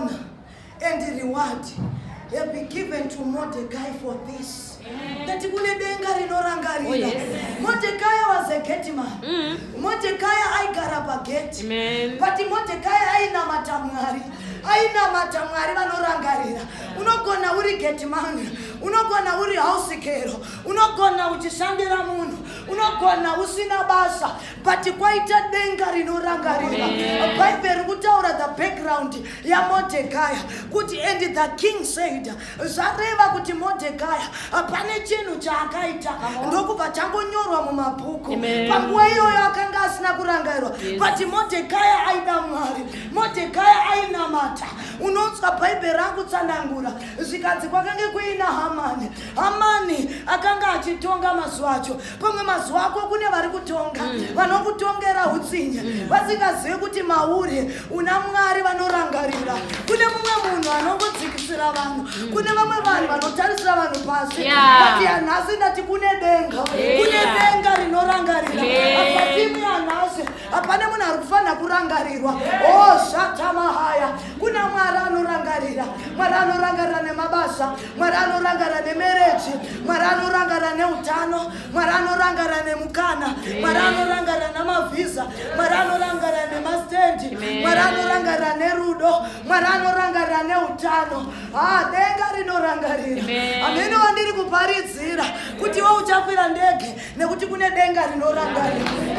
honor and reward have been given to Mordecai for this. That kune denga rinorangarira. Oh, Mordecai was a gate man. Mm. Mordecai aigara pagate. Amen. But Mordecai ainamata Mwari. Ainamata Mwari vanorangarira. Unogona uri gate man. Unogona uri house girl. Unogona uchishandira munhu. Unogona usina basa. but kwaita denga rinorangarira bhaibheri kutaura the background yamodhekaya kuti and the king said zvareva kuti modhekaya pane chinhu chaakaita ndokubva changonyorwa mumabhuku panguva iyoyo akanga asina kurangairwa but modhekaya aida mwari modhekaya ainamata unonzwa bhaibheri akutsanangura zvikanzi kwakange kuina hamani hamani akanga achitonga mazuva acho pamwe mazuva ako kune vari kutonga mm. vanokutongera utsinye mm. vasingazivi kuti mauri una mwari vanorangarira kune mumwe munhu anongodzikisira vanhu mm. kune vamwe vanhu vanotarisira vanhu pasi ati yanhasi ndati kune denga kune denga rinorangarira apatimu yanhasi hapane munhu ari kufanira kurangarirwa oshatamahaya oh, kuna mwari anorangarira mwari anorangarira nemabasa mwari anorangara nemereji mwari anorangara neutano mwari anorangara nemukana mwari anorangara namavhiza mwari anorangara nemastendi mwari anorangara nerudo mwari anorangara neutano ha denga rinorangarira amene wandiri kuparidzira kuti iwe uchakwira ndege nekuti kune denga rinoranga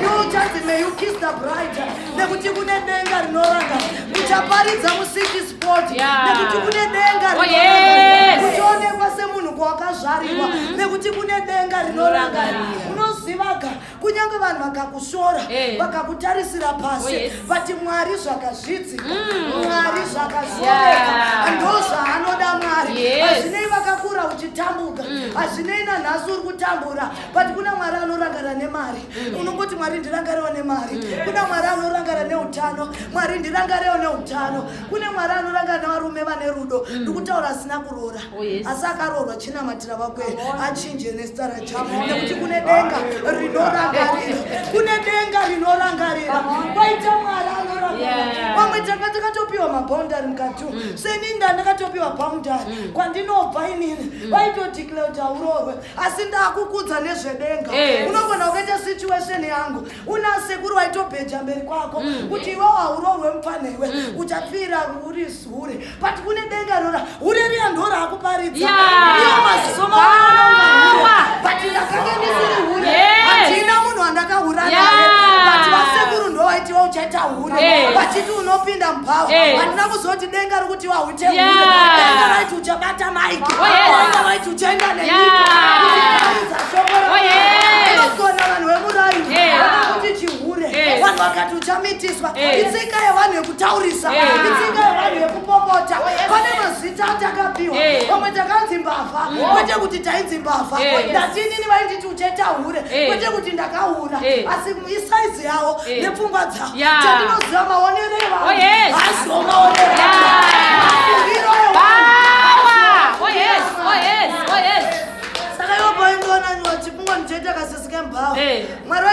you just may you kiss the bride nekuti kune denga rinoranga uchaparidza musiki sport nekuti kune denga oh, rinoranga uchaonekwa semunhu kwawakazvarirwa mm. nekuti kune denga rinoranga unozivaga kunyange vanhu vakakushora eh. vakakutarisira pasi oh, but mwari zvakazvidzi mm. mwari zvakazoreka yeah. ndozvaanoda mwari hazvinei yes. vakakura uchitambuka mm. hazvinei mm. nanhasi uri kutambura but kuna mwari anorangara nemari mm. unongoti mwari ndirangarewo nemari mm. kuna mwari anorangara neutano mwari ndirangarewo neutano kune mwari anorangara nevarume vane rudo mm. ndikutaura asina kuroora Oh, asi akaroorwa chinamatira vakwe achinje nezita rachavo nekuti kune denga rinorangarira kune denga rinorangarira kwaita mwari anorangarira pamwe tanga takatopiwa mabhaundari mukati mm. seninda ndakatopiwa bhaundari mm. kwandinobva inini mm. vaitodiclare kuti hauroorwe asi ndakukudza nezvedenga unogona ukaita situation yangu una sekuru waitobheja mberi kwako kuti iwewo hauroorwe mupfanha iwe uchapfira uri hure but kune denga rora hure riya ndora akuparidza iyo maziso maanonga but ndakanga ndisiri hure handina munhu wandakahura naye but vasekuru ndovaiti vauchaita hure vachiti unopinda mubhawa handina kuzoti denga rokuti wahute hure denga raiti uchabata mike denga raiti uchaenda nenyikaaiza shoko inogona vanhu vemuraini vakakuti chihure vanhu vakati chamitiswa eh. itsika yevanhu yekutaurisa eh. itsika yevanhu yekupopota oh, pane mazita atakapiwa eh. pamwe takanzi mbavha oh. kwete kuti tainzi mbavha ndatinini vainditi ucheta hure kwete kuti ndakahura asi isaizi yavo nepfungwa dzavo chandinoziva maonero evanhu hasi oh, maonero mafungiro evanhu saka ivo paindoona nyuwa chipungwa ndichaita kasisi kembavha